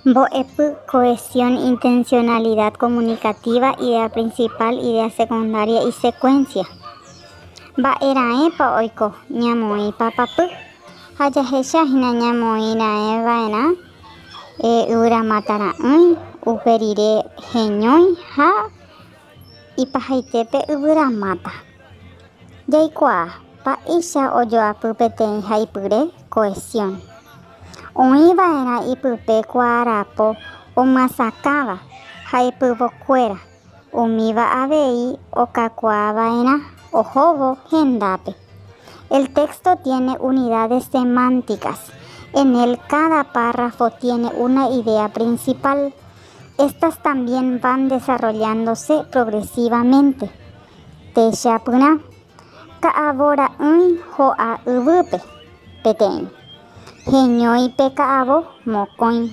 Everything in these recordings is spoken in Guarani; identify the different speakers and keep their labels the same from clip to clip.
Speaker 1: Mbo'epy, cohesión, intencionalidad comunicativa, idea principal, idea secundaria y secuencia. Mba'e raẽpa oiko? Ñamoĩ papapy ha jahecha hína ñamoĩ raẽ va'erã yvyramáta ra'ỹi, upe rire heñói ha ipahaitépe yvyramáta. Jaikuaa mba'éicha ojoapy peteĩ haipyre cohesión. Oĩva'erã ipype kuaarapo omyasakãva haipyvokuéra, umíva avei okakuaava'erã ohóvo hendápe. El texto tiene unidades semánticas, en él cada párrafo tiene una idea principal. Estas también van desarrollándose progresivamente, techapyrã, ka'avo ra'ỹi ho'a yvýpe, peteĩ. Heñói pe ka'avo mokõi.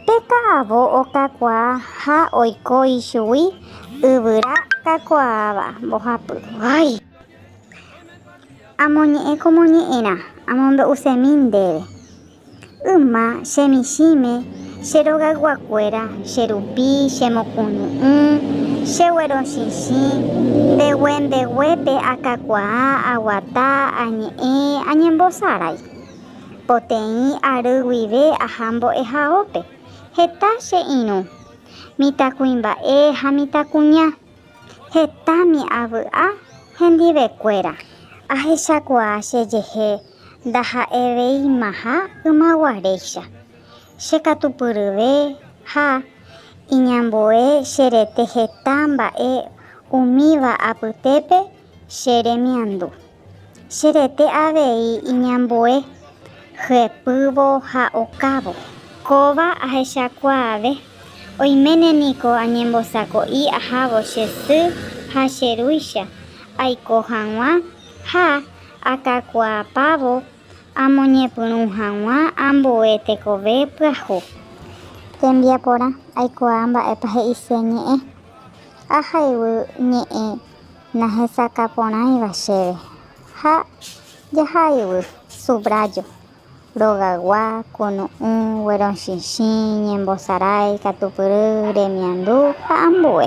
Speaker 1: Pe ka'avo okakuaa ha oiko ichugui yvyra kakuaáva mbohapy. Ay! Amoñe'ẽ komoñe'ẽrã amombe'usemi ndéve. Yma che michĩme, che rogayguakuéra, che rupi, che mokunu'ũ, che guerochichĩ, ndegue ndeguépe akakuaa, aguata, añe'ẽ, añembosarái. Poteĩ ary guive aha mbo'ehaópe, heta che irũ, mitãkuimba'e ha mitãkuña, hetami avy'a hendivekuéra. Ahechakuaa che jehe Ndaha'eveimaha ymaguaréicha, che katu pyryve ha iñambue che rete heta mba'e umíva apytépe che remiandu. Che rete avei iñambue hyepývo ha okávo. Kóva ahechakuaave, oiméne niko añembosako'i ahávo che sy ha che rúicha aiko hag̃ua ha Akakuaapávo amoñepyrũ hag̃ua ambue tekove pyahu. Tembiaporã, aikuaa mba'épa he'ise ñe'ẽ. Ahayhu ñe'ẽ nahesakãporãiva chéve ha jahayhu, subrayo. Rogagua, kunu'ũ, guerochichĩ, ñembosarái, katupyry, remiandu ha ambue.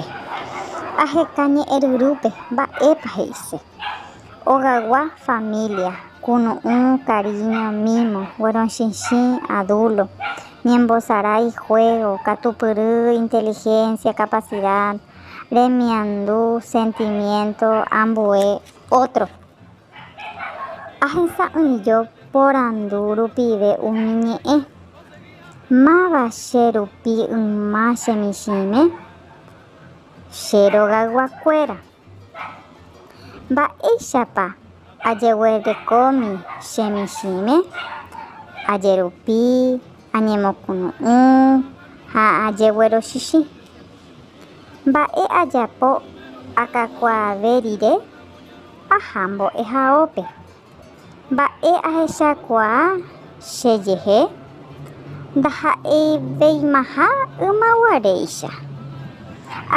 Speaker 1: Aheka ñe'ẽryrúpe mba'épa he'ise. Ogagua, família, kunu'ũ, karíño, mímo, guerochichĩ, adúlo, ñembosarái, juégo, katupyry, intelihénsia, kapasida, remiandu, sentimiénto, ambue, ótro. Ahesa'ỹijo porandu rupive umi ñe'ẽ, Máva che rupi yma che michĩme? Che rogayguakuéra, mba'éichapa ajeguerekómi che michĩme? Ajerupi, añemokunu'ũ ha ajeguerochichĩ. Mba'e ajapo akakuaave rire? Aha mbo'ehaópe. Mba'e ahechakuaa chejehe? Ndaha'eiveimaha ymaguaréicha.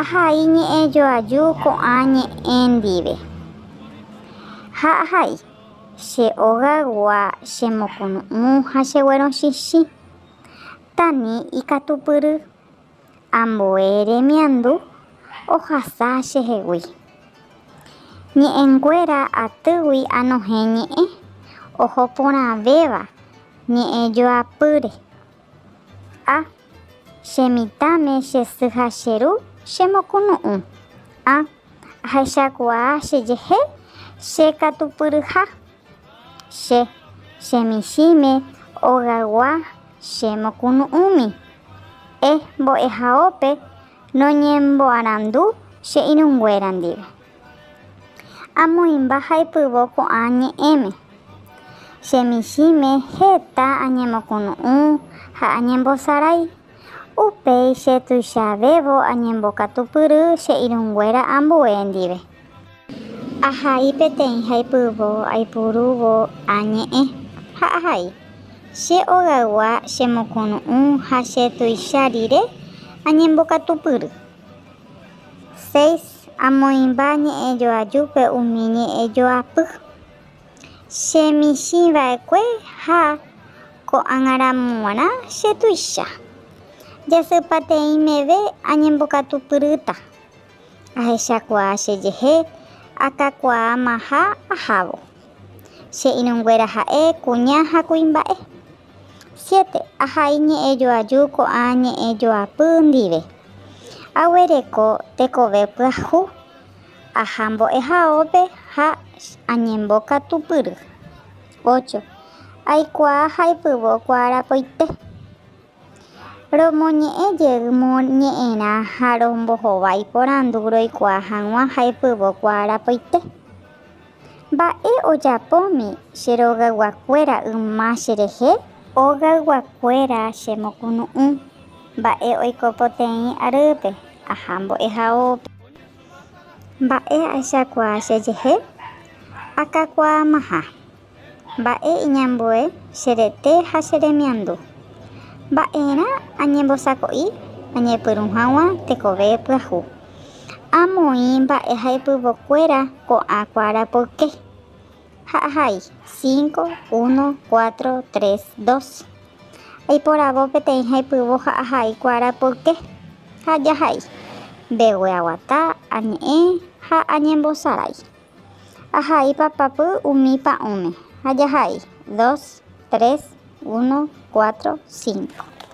Speaker 1: Ahai ñe'ẽjoaju ko'ã ñe'ẽ ndive. Ha ahai, che ogagua chemokunu'ũ ha cheguerochichĩ. Tani ikatupyry. Ambue remiandu ohasa chehegui. Ñe'ẽnguéra atýgui anohẽ ñe'ẽ oho porãvéva ñe'ẽ joapýre. A. Che mitãme che sy ha che ru chemokunu'ũ. A. Ahechakuaa che jehe che katupyryha. Che chemichĩme ogaygua che mokunu'ũmi. E mbo'ehaópe noñemboarandu che irũnguéra ndive. Amoĩmba ha'epyvo ko'ã ñe'ẽme. Chemichĩme heta añemokunu'ũ ha añembosarái. Upéi che tuichavévo añembokatupyry che irũnguéra ambue ndive. Ahai peteĩ haipyvo aipurúvo añe'ẽ ha ahai. Che ogaygua chemokunu'ũ ha che tuicha rire añembokatupyry. Seis amoĩmba ñe'ẽjoajúpe umi ñe'ẽjoapy. Che michĩ vaekue ha ko'ág̃aramo g̃uarã che tuicha. Jasypateĩ meve añembokatupyrýta. Ahechakuaa chejehe akakuaamaha ahávo. Che irũnguéra ha'e, kuña ha kuimba'e. Siete, ahai ñe'ẽ joaju ko'ã ñe'ẽ joapy ndive. Aguereko tekove pyahu, aha mbo'ehaópe ha añembo katupyry. Ocho, aikuaa ha aipyvo kuaarapoite. Romoñe'ẽ jey moñe'ẽrã ha rombohova iporandu roikuaa hag̃ua ha epyvokuaa rapaite. Mba'e ojapómi che rogayguakuéra yma cherehe? Ogayguakuéra chemokunu'ũ mba'e oiko poteĩ arýpe, aha mbo'ehaópe. Mba'e ahechakuaa chejehe? Akakuaamaha Mba'e iñambue che rete ha che remiandu? Mba'erã añembosako'i añepyrũ hag̃ua tekove pyahu? Amoĩ mba'e ha ipyvo kuéra ko'ã kuára poyke. Ha ahai, cinco, uno, cuatro, tres, dos. Aiporavo peteĩ ha ipyvo ha ahai kuára poyke. Ha jahai. Mbegue aguata, añe'ẽ ha añembosarái. Ahai papapy umi pa'ũme ha jahai. Dos, tres, uno, cuatro, cinco.